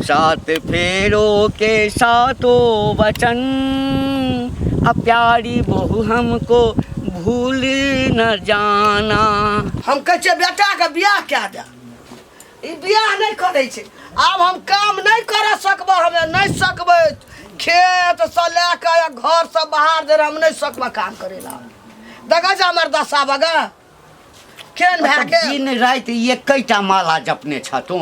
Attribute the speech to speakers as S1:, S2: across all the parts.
S1: सात फेरो के सातो वचन अब प्यारी बहु हमको भूल न जाना हम कहै
S2: छियै बेटाके बियाह कए दे ई बियाह नहि करै छै आब हम काम नहि करऽ सकबै हमे नहि सकबै खेत से लए कऽ घर से बाहर धरि हम नहि सकबै काम करै लए देखै छै हमर दशा बगा केहन भए ओतऽ गेल दिन राति
S1: एकैटा माला जपने छ तू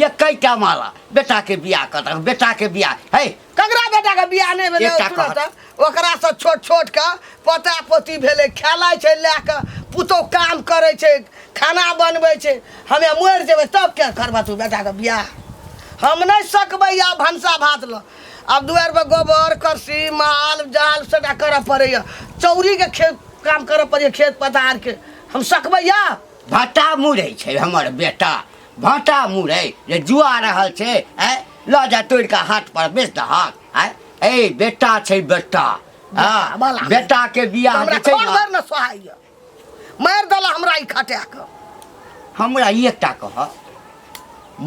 S1: एकैटा माला बेटाके बियाह कर दहक बेटाके बियाह है ककरा बेटा के
S2: बियाह नहि भेलै एकटा तुरंत कहत। ओकरा से छोट छोट के पोता पोती भेलै खेलाइ छै लए कऽ पुतौ काम करै छै खाना बनबै छै हमे मरि जेबै तब के करबह तू बेटा के बियाह हम नहि सकबै आब भनसा भात लऽ आब दुआर पर गोबर करसी माल जाल सबटा करऽ पड़ैए चौरीके खेत काम करऽ पड़ैए खेत पथारके हम सकबै यऽ भाटा मुड़ै
S1: छै हमर बेटा भाटा मुड़ै जे जुआ रहल छै आँय लऽ जा तोड़ि कऽ हाट पर बेच दहक आँय ए बेटा छै बेटा हँ, बाला। बेटाके बियाह हमरा जे छै घर ने भरि ने सोहाइए
S2: मारि देला हमरा ई खटा कऽ हमरा
S1: ई एकटा कहत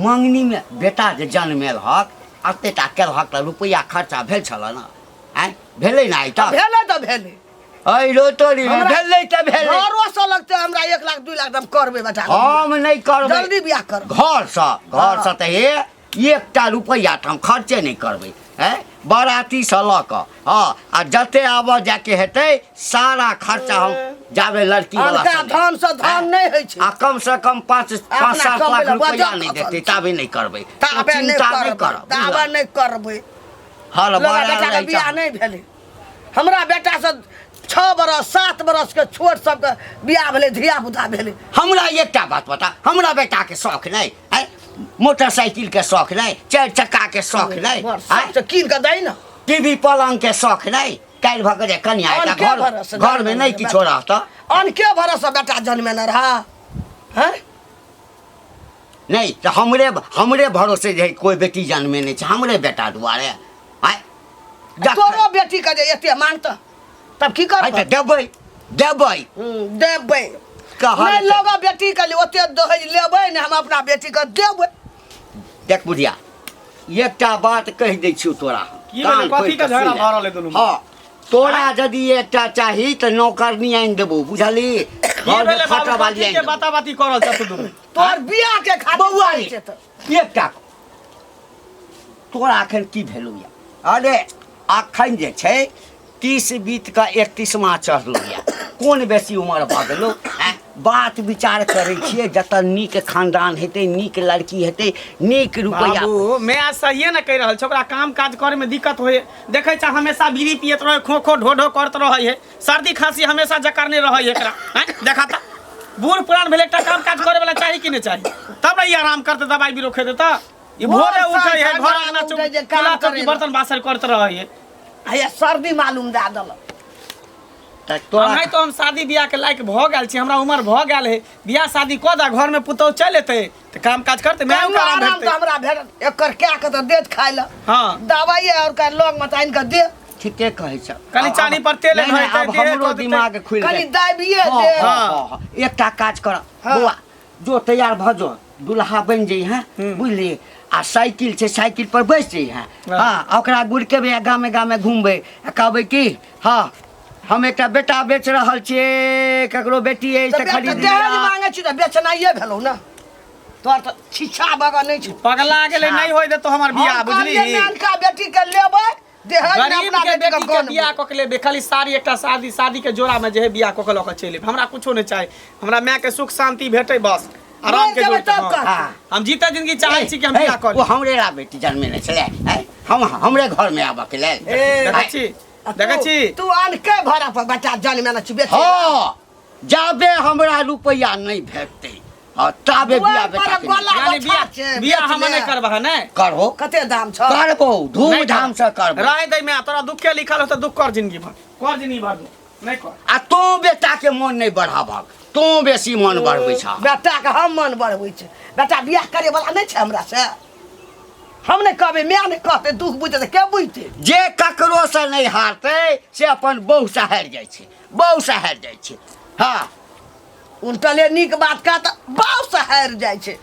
S1: मङ्गनीमे बेटा जे जन्मेल हक एतेटा केलहक तऽ रुपैआ खर्चा भेल छल ने आँय भेलै ने आइ तक भेलै तऽ
S2: भेलै अइ रो तोरी
S1: हमरा- भेलै तऽ भेलै घरो से लगते हमरा
S2: एक लाख दू लाख हम करबै बेटा हम नहि करबै
S1: जल्दी बियाह कर
S2: घरसँ
S1: घरसँ तऽ हे एकटा रुपैआ तऽ हम खर्चे नहि करबै है बरातीसँ लऽ कऽ हँ आ जते आबऽ जाके हेतै सारा खर्चा हम जाबे लड़की वाला धन से धन
S2: नहि होइ छै आ कम से कम
S1: पाँच पाँच सात लाख रुपैआ नहि देतै ताबे नहि करबै ताबे नहि
S2: करबै ताबे
S1: नहि करबै
S2: हल
S1: बड़ा बेटा बियाह
S2: नहि भेलै हमरा बेटासँ छओ बरस सात बरसके छोट सबके बियाह भेलै धियापुता भेलै हमरा एकटा बात
S1: बता हमरा बेटाके शौक नहि आँय मोटरसाइकिलके शौक नहि चारि चक्काके शौक नहि बड़ आँय शौकसँ कीन कऽ दै
S2: ने टीवी पलङ्गके
S1: शौक नहि काल्हि भऽ गेलै कनिया अन एकटा के घर भरोसे घरमे जनमे नहि ने किछो बेटा। रहतऽ अन के भरोसे
S2: बेटा जनमेने रहए हैं
S1: नहि तऽ हमरे हमरे भरोसे जे कोइ बेटी जन्मे नहि छै हमरे बेटा दुआरे आय
S2: तोरो बेटी के जे एते मानत तब की करबै तऽ देबै
S1: देबै देबै
S2: कहल लोग बेटी के लिए ओते दहेज लेबै ने हम अपना बेटी के देबै देख
S1: बुढ़िया एकटा बात कहि दै छियौ तोरा की भेलै कथी के
S3: झगड़ा भऽ रहल है दुनू हां तोरा
S1: यदि एकटा चाही तऽ नौकरनी आनि देबो बुझली घर में
S3: फटा वाली आनि देबो बाता बाती करल छ तू दुनू
S2: तोर
S1: बिया के खातिर बौआ रे। छै तऽ। एक टा तोरा एखन की भेलौ या अरे एखन जे छै तीस बीत के एकतीसमा चढ़लौ या कोन बेसी उमर भऽ गेलौ आँय? बात विचार करै छियै जतऽ नीक खानदान हेतै नीक लड़की हेतै नीक रुपैआ बाबू मैं सहिए
S3: ने कहि रहल छै ओकरा काम काज करे में दिक्कत होय देखै छै हमेशा बीड़ी पियत रहे खो खो ढो ढो करत रहे है सर्दी खांसी हमेशा जकर नहीं रह एकरा हैं? देखा था बूढ़ पुरान भेल एकटा काम काज करे वाला चाही कि नहीं चाही तब ना ई आराम करते दवाई बीरो खेते त ई भोर भोरे साँझ उठे है घर भोर आंगना उठे जे चौक काम किला चौकी करेला। बर्तन बासर करते रहे है आया सर्दी
S2: मालूम दा दल तऽ
S3: हम तोरा नहीं तो हम शादी ब्याह के लायक भ गेल छी हमरा उम्र भ गेल है ब्याह शादी क दा घर में पुतौ चल एते त काम काज करते मैं कहियो आराम आराम भेटते तऽ हमरा भेटत
S2: एकर कए कऽ तऽ देत खाय लए हां दवाइ आओर
S3: का लग
S2: मे तानि कऽ दे ठीके कहै छ
S1: कनी चानी पर तेल
S3: नहीं, नहीं, धरि अब देह हमरो कऽ देतै। दिमाग
S1: खुलि कनी गेल दाबिए हाँ, दे हाँ, हाँ। हाँ,
S2: हाँ। एकटा
S1: काज कर हाँ। बौआ जो तैयार भऽ जो दुल्हा बनि जइहे हम्म। बुझली आ साइकिल छै साइकिल पर बैस जइहे हाँ। हाँ आ ओकरा गुड़केबै आ गामे गामे घुमबै आ कहबै कि हाँ हम एकटा बेटा बेच रहल छिए ककरो बेटी है से खरीद लिया दहेज मांगे छी त
S2: बेचनाइए भेलौ ना तोर त छिछा बगा नै छै पगला गेले नै होय
S3: देतो हमर बियाह बुझली हम कहलिए नानका बेटी के
S2: लेबै दहेज में अपना के बेटी के बियाह
S3: क
S2: के लेबे
S3: खाली साड़ी एकटा शादी शादी के जोड़ा में जे है बियाह क के ल के चले हमरा कुछो नै चाही हमरा माय के सुख शांति भेटै बस आराम के जोड़ तब कर हम जीते जिंदगी चाहै छी कि हम बियाह कर ओ हमरे ला बेटी
S1: जन्मे नै छले हम हमरे घर में आबा के लेल देखै छी
S3: देखै छी तू अनके भरा
S2: पर बच्चा जन्मे न छिबे हां
S1: जाबे हमरा रुपया नहीं भेटते हां ताबे बिया बेटा यानी बिया
S3: बिया हम नहीं करबा है नहीं करबो कते दाम
S1: छ
S2: करबो धूम
S1: धाम से करबो रहे दे में तोरा दुख के
S3: लिखल हो त दुख कर जिंदगी भर कर जिंदगी भर नहीं कर आ तू बेटा
S1: के मन नहीं बढ़ाबा तू बेसी मन बढ़बै छ बेटा के हम मन
S2: बढ़बै छ बेटा बियाह करे वाला नहीं छ हमरा से हम नहि कहबै माय नहि कहतै दुख बुझतै तऽ के बुझतै जे ककरोसँ
S1: नहि हारतै से अपन बहूसँ हारि जाइ छै बहूसँ हारि जाइ छै हँ उनटले
S2: नीक बात कह तऽ बहूसँ हारि
S1: जाइ
S2: छै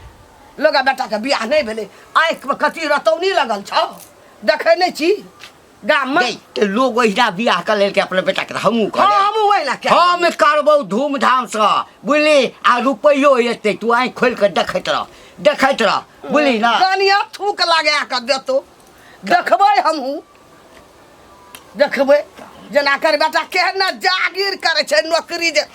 S2: लोग बेटाके बियाह नहि भेलै आँखिमे कथी रतौनी लगल छौ देखै नहि छी गाम में गई तो लोग ओहिना
S1: बियाह कर लेलके अपने बेटा के हमू कर हाँ हम वही ला
S2: क्या
S1: हम
S2: करबौ
S1: धूमधाम से बुझली आ रुपैयो एते तू आँखि खोलि कऽ देखैत रह देखैत रह बुझली ना कनिया थूक लगा
S2: कऽ देतो देखबै हमहूँ देखबै जेना कर बेटा केहन ने जागीर करै छै नौकरी जे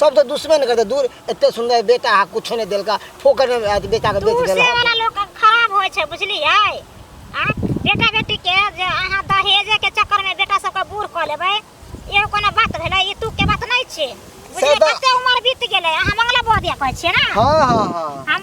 S4: सब तो दुश्मन करते दूर एते सुंदर बेटा हा कुछो ने देलका फोकट में आज बेटा के बेच दूर से देला वाला लोग के
S5: खराब
S4: होय
S5: छै बुझलियै आ बेटा बेटी के जे अहाँ दहेजे के चक्कर में बेटा सबके बूढ़ कऽ लेबै इहो कोनो बात भेलै ई तू के बात नहि छै बुझलियै तऽ- कते उम्र बीत गेलै अहाँ मंगला बौआ दिया कहै छियै ने हां हां हां हम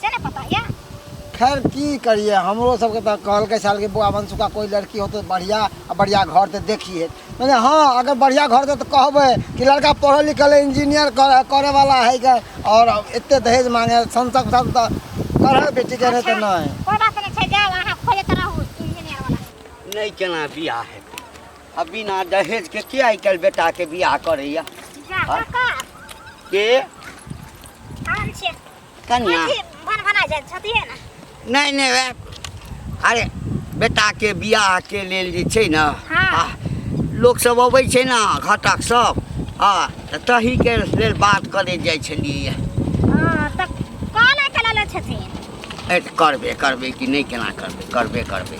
S5: से ने पता ये खैर की
S4: करिए हमरो सबके तऽ कहलकै साल के बुआ बंसु का कोई लड़की हो तो बढ़िया आ बढ़िया घर ते देखिए मैंने हाँ अगर बढ़िया घर दे तो कहबे कि लड़का पढ़ल लिखल है, इंजीनियर करे, करे वाला है के और एते दहेज मांगे संसक सब तो करे बेटी के नहीं तो नहीं कोई बात नहीं छै जाओ अहाँ खोजे तऽ रहू इंजीनियर
S5: वाला नहीं केना
S1: बियाह हेतै आ बिना दहेज के के आइ काल्हि बेटा के बियाह करैया जा हाँ।
S5: काका के हम छियै कन्या अथी
S1: भन भना
S5: जाइ छथि ने नहि नहि
S1: वएह अरे बेटाके बियाहके लेल जे छै ने हँ। आ,
S5: लोकसभ
S1: अबै छै ने घटक सब आ तऽ तहीके लेल बात करैत जाइ छलियै हँ तऽ
S5: कॉल आइ कला लै छथिन ए, तऽ करबे करबै
S1: कि नहि केना करबै करबे करबै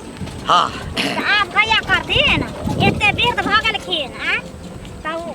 S1: हँ तऽ आब कहिया
S5: करथिन एते वृद्ध भऽ गेलखिन आ तऽ ओ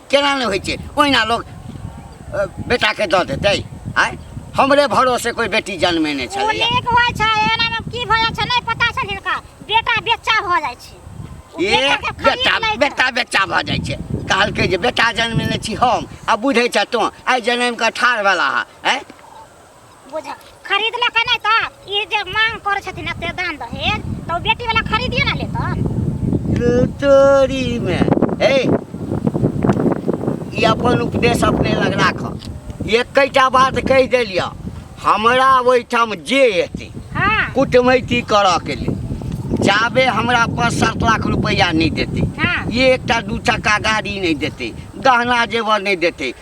S1: केना नहि होइ छै ओहिना लोक बेटाके दऽ देतै आँय हमरे भरोसे कोइ बेटी जन्मे नहि छलै नीक होइ छै एनामे
S5: की भऽ जाइ छै नहि पता छै हिनका बेटा बेच्चा भऽ जाइ छै
S1: बेटा बेटा बेच्चा भऽ जाइ छै कहलकै जे बेटा जन्मेने छी हम आ बुझै छह तोँ आइ जनमि कऽ ठाढ़ भेला हे
S5: बुझ खरीदलक नहि तऽ ई जे मांग करै छथिन एते दान दहेज तऽ ओ बेटी
S1: वाला खरीदिए ना लेतन तोरी में हे ई अपन उपदेश अपने लग राख एकटा बात कहि देलिया हमरा ओहिठाम जे एतै हाँ कुटमैती करऽ के लेल जाबे हमरा पाँच सात लाख रुपैआ नहि देतै हाँ ये एकटा
S5: दू चक्का
S1: गाड़ी नहि देतै गहना जेवर नहि देतै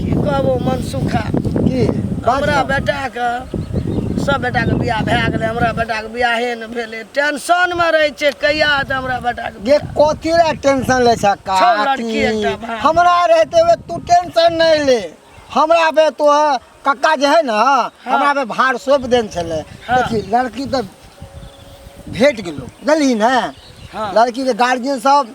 S2: की कहबो मन सुखा की
S4: हमरा
S2: बेटाके सब बेटाके बियाह भए गेलै हमरा बेटाके बियाहे ने भेलै टेंशनमे रहै छै कहिया हेतै हमरा बेटाके ये कथी ला
S4: टेंशन ले छा का छौ लड़की एकटा भाय।
S2: हमरा रहते हुए
S4: तू टेंशन नहीं ले हमरा पे तो है, कक्का जे है ना हमरा पे भार सौंप देन छले हाँ। देखी लड़की
S2: तो
S4: भेट गेलो बुझलिन है हाँ। लड़की के
S2: गार्जियन
S4: सब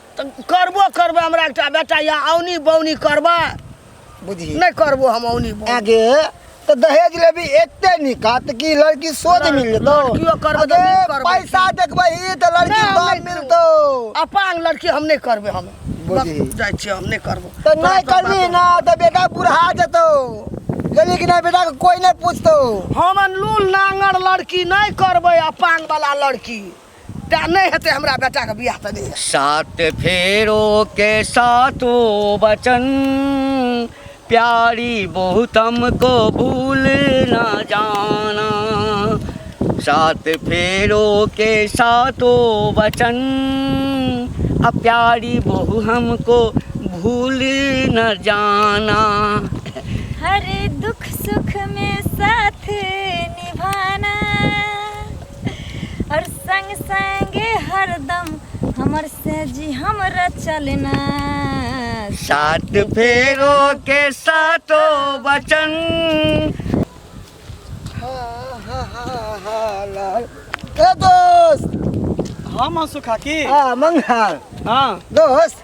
S4: तऽ
S2: करबो करबै हमरा एकटा बेटा या औनी बौनी करबै बुझी
S4: नहि करबो हम
S2: औनी बौनी आगे तऽ
S4: दहेज लेबी एते निकात कि लड़की सोझ मिल जेतौ लड़कियो करबै तऽ आगे नीक
S2: करबै। पैसा देखबै ई
S4: तऽ लड़की नहि, हम सोझ नहि मिलतौ अपांग लड़की
S2: हम नहि करबै हम बुझी। बस जाइ छियै
S4: हम नहि करबो
S2: तऽ तोरा नहि सब करबी
S4: बात- ना तऽ बेटा बुढ़ा जेतौ जल्दी कि नहि बेटा के कोई नहि पूछतौ हम अनलूल
S2: नांगर लड़की नहि करबै अपांग वाला लड़की टा नहि हेतै हमरा बेटाके बियाह तऽ नहि सात फेरो
S1: के सातो बचन प्यारी बहुत हमको भूल ना जाना सात फेरो के सातो बचन आ प्यारी बहु हमको भूल न जाना
S6: हर दुख सुख में साथ और संग संगे हरदम हमर से जी हमरा चलना
S1: सात फेरो के सातो वचन
S4: ए दोस्त हम हंसू
S3: खाकी हाँ मंगल हाँ
S4: दोस्त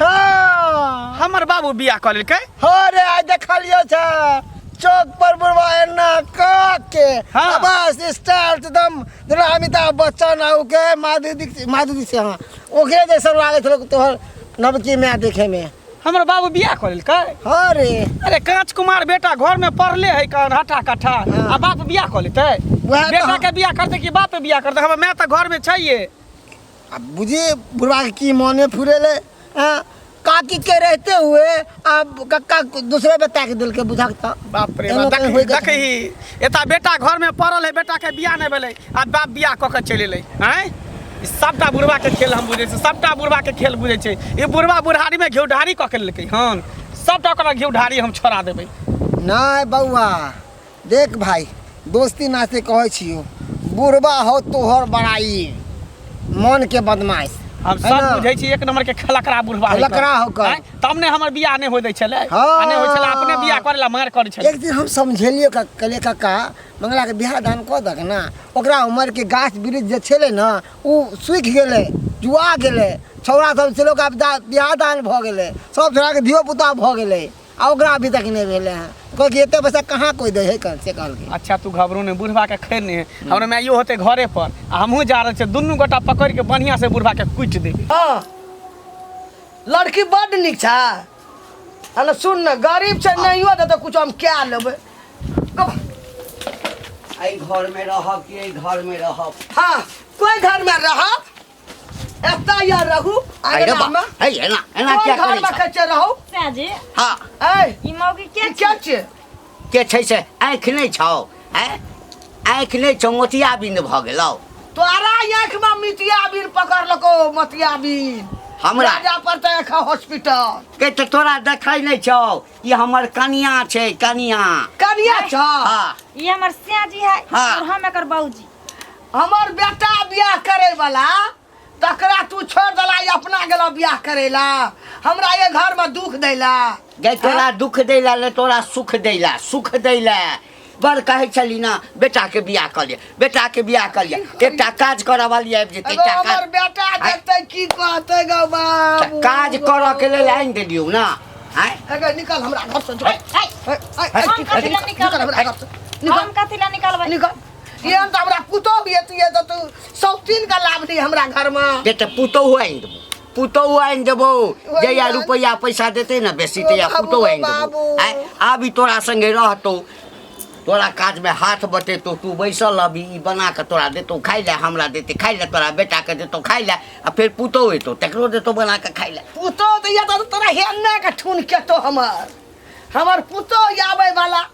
S3: हाँ
S4: हमर बाबू
S3: बियाह कऽ लेलकै हाँ रे आइ
S4: देखलियो छ चौक पर बुढ़वा एना कह के हाँ। आ बस
S3: स्टार
S4: एकदम जेना अमिताभ बच्चन आउ के माधुरी दीक्षित माधुरी से हाँ ओकरे जैसा लागे छलो तोहर नवकी माय देखे में हमर बाबू बियाह
S3: कऽ लेलकै हाँ रे
S4: अरे कांच कुमार
S3: बेटा घर में पढ़ले है कन हटा कट्ठा हाँ। आ बाप बियाह कऽ
S4: लेतै
S3: वएह तऽ बेटा हम- के
S4: बियाह करतै कि
S3: बाप बियाह करतै हमर माय तऽ घर में छैहे आ
S4: बुझे बुढ़वा के की मने फुरेले हाँ काकी के रहते हुए अब कक्का दूसरे बेटा के दिल के बुझक त बाप रे एना बाप कहीं होय
S3: देखी के देखी
S4: एता
S3: बेटा घर में पड़ल है बेटा के बियाह नहीं भेलै आ बाप बियाह कऽ के चलि एलै आँय ई सबटा बुढ़वा के खेल हम बुझै छी सबटा बुढ़वा के खेल बुझै छै ई बुढ़वा बुढ़ारी में घिउ ढारी कऽ के लेलकै हन सबटा ओकरा घिउ ढारी हम छोड़ा देबै नहीं
S4: बउआ देख भाई दोस्ती नाते कहै छियो बुढ़बा हो तोहर बड़ाई मन के बदमाश हम है सब ना? बुझै
S3: छी एक नंबर के
S4: खलकरा
S3: बुढ़वा है खलकरा कर। हो कर। हैं? तब
S4: ने हमर
S3: बियाह नहि होय दै छलै हँ। आ नहि होय छलै अपने
S4: बियाह
S3: करै ला मार करै छलै एक दिन हम समझेलिए
S4: का कले काका मंगला के बियाह दान कऽ दक ना ओकरा उमर के गाछ वृक्ष जे छलै ना उ सूखि गेलै जुआ गेलै छौड़ा सब छलै ओकरा बिदा- बियाह दान भऽ गेलै सब छौड़ा के धियो पुता भऽ गेलै आ ओकरा अभी तक नहीं भेले हैं कहल कि एते पैसा कहाँ कोई दे है कल से कहल कि अच्छा तू घबरू ने बुढ़वा
S3: के खैर नहीं है हमरा माइयो होते घरे पर आ हमहूँ जा रहल छियै दुनू गोटा पकड़ के बढ़िया से बुढ़वा के कुटि देबै हाँ
S2: लड़की बड निक छ अरे सुन न गरीब छ नहीं हो तो कुछ हम क्या लेबै कब एहि
S1: घर में रहब कि एहि घर में रहब हाँ कोई
S2: घर में रह एता या रहू आगे अरे बा नाम
S1: है ये ना है
S2: ना कोन
S1: क्या घर करे में छै? कच्चे
S2: रहू साजी
S6: हाँ ए
S1: ई मौगी
S2: ई के क्या
S6: छै
S2: के छै
S1: से आँखि नहि छौ है आँखि नहि छौ मोतिया बिन्द भऽ गेलौ तोरा
S2: आँख में मितिया बीन पकड़ लको मतिया बीन हमरा राजा पर
S1: तो एक
S2: हॉस्पिटल के तो तोरा
S1: देखै नहि छौ ई हमर कनिया छै कनिया कनिया छ हाँ
S2: ई हमर
S1: साजी
S6: है हाँ। और हम एकर
S1: बाबूजी
S6: हमर
S2: बेटा बियाह करे वाला तकरा तू छोड़ दला ई अपना गेला बियाह करे ला हमरा ये घर में दुख दैला गै तोरा
S1: दुख दैला ले तोरा सुख दैला सुख दैला बड़ कहै छली ना बेटाके बियाह कऽ लिअ बेटाके बियाह कऽ लिअ एकटा काज करऽ वाली आबि जेतै एगो एकटा हमर काज बेटा देखते
S2: की कहते गौ एकटा बाबू काज करऽके
S1: लेल आनि देलियौ ना आँय एगो निकल हमरा
S2: घर से जो ए, ए, ए, ए, ए, की-
S6: कथी ला निकल हमरा घर
S2: से हम निकल कथी ला निकालबै
S6: निकल ये हम तऽ
S2: हमरा पुतौ ये तू ये तऽ तू सौतीन का लाभ दी हमरा घर में जे तऽ पुतोहु आनि
S1: देबो पुतोहु आनि देबो जहिया बात। रुपैआ पैसा देतै ने बेसी ओ तहिया बाबू, पुतोहु आनि देबो बाबू। आँय, आब ई तोरा संगे रहतौ तोरा काज में हाथ बटेतौ तू बैसल अभी ई बना कऽ तोरा देतौ खाइ लए हमरा देतै खाइ लए तोरा बेटा के देतौ खाइ लए आ फेर पुतोहु एतौ तकरो देतौ बना कऽ खाइ लए पुतौ तऽ ये तऽ
S2: तोरा हेन्ने के ठुन केतो हमर हमर पुतौ आबै वाला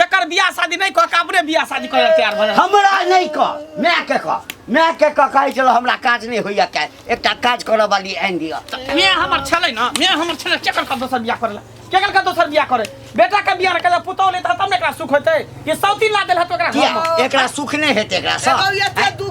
S3: तकर बियाह शादी नहीं कह के अपने बियाह शादी करे तैयार भले हमरा नहीं कह
S1: मैं के कह मैं के कह कहे चलो हमरा काज नहीं होइया के एकटा काज करे वाली आन दिया मैं हमर
S3: छले ना मैं हमर छले केकर का दोसर बियाह करेला केकर का दोसर बियाह करे बेटा के बियाह करे पुतौ ले तब ने एकरा सुख होते ये सौती ला देल हत ओकरा किया घर में। एकरा सुख नहीं हेते
S1: एकरा सा एगो एते दू